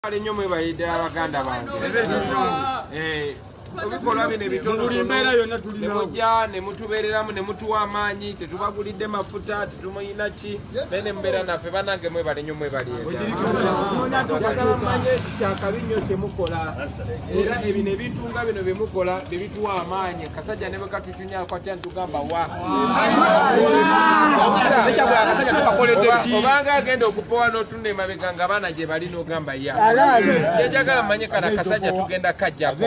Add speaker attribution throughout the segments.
Speaker 1: Kale nnyo mwebale ddala baganda bange eh, ebikolwa bino ebitononebujja ne mutubeereramu ne mutuwa amaanyi tetubagulidde mafuta tetumuyina ki naye ne mubeera naffe banange mwebale nnyo mwebaliagala manye kyakabi nnyo kyemukola era ebino ebintu nga bino bye mukola bye bituwa amaanyi kasajja ne bwekatucunyako atya nitugamba wa obanga agenda okupowa ne mabega nga bana je bali no gamba ya je jagala manye kana kasaja tugenda kajja ko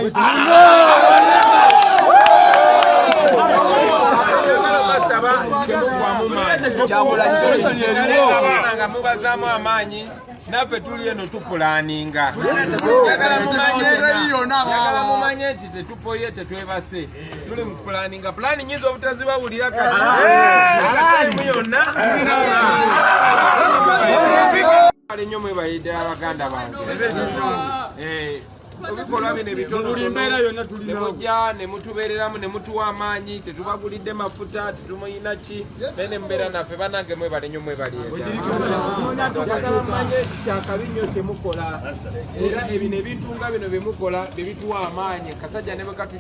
Speaker 1: nga mubazamu amaanyi naffe tuli eno tupulaninga yagala mumanye nti tetupoye tetwebase tuli mu pulaninga pulani nyinza obutazibawulira katimu yonna nyo mwebayidde abaganda bange eh, ebikolwa bino ebitononebujja nemutubereramu nemutuwa amaanyi tetubagulidde mafuta tetumuyina ki naye nemubeera naffe banange mwebale nyo mwebaliagamanye kyakabi nyo kyemukola era ebino ebintu nga bino byemukola byebituwa amaanyi kasajja nebekatu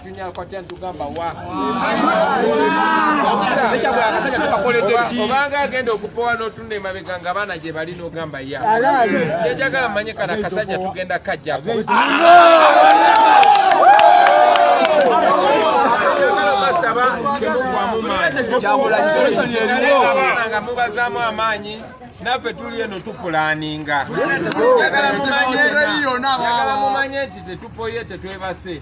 Speaker 1: obanga agenda okupowa notunda emabega nga abaana gye bali nogamba ya kyejagala manye kana kasajja tugenda kajjako nga mubazaamu amaanyi naffe tuli eno tupulaninga yagala mumanye nti tetupoye tetwebase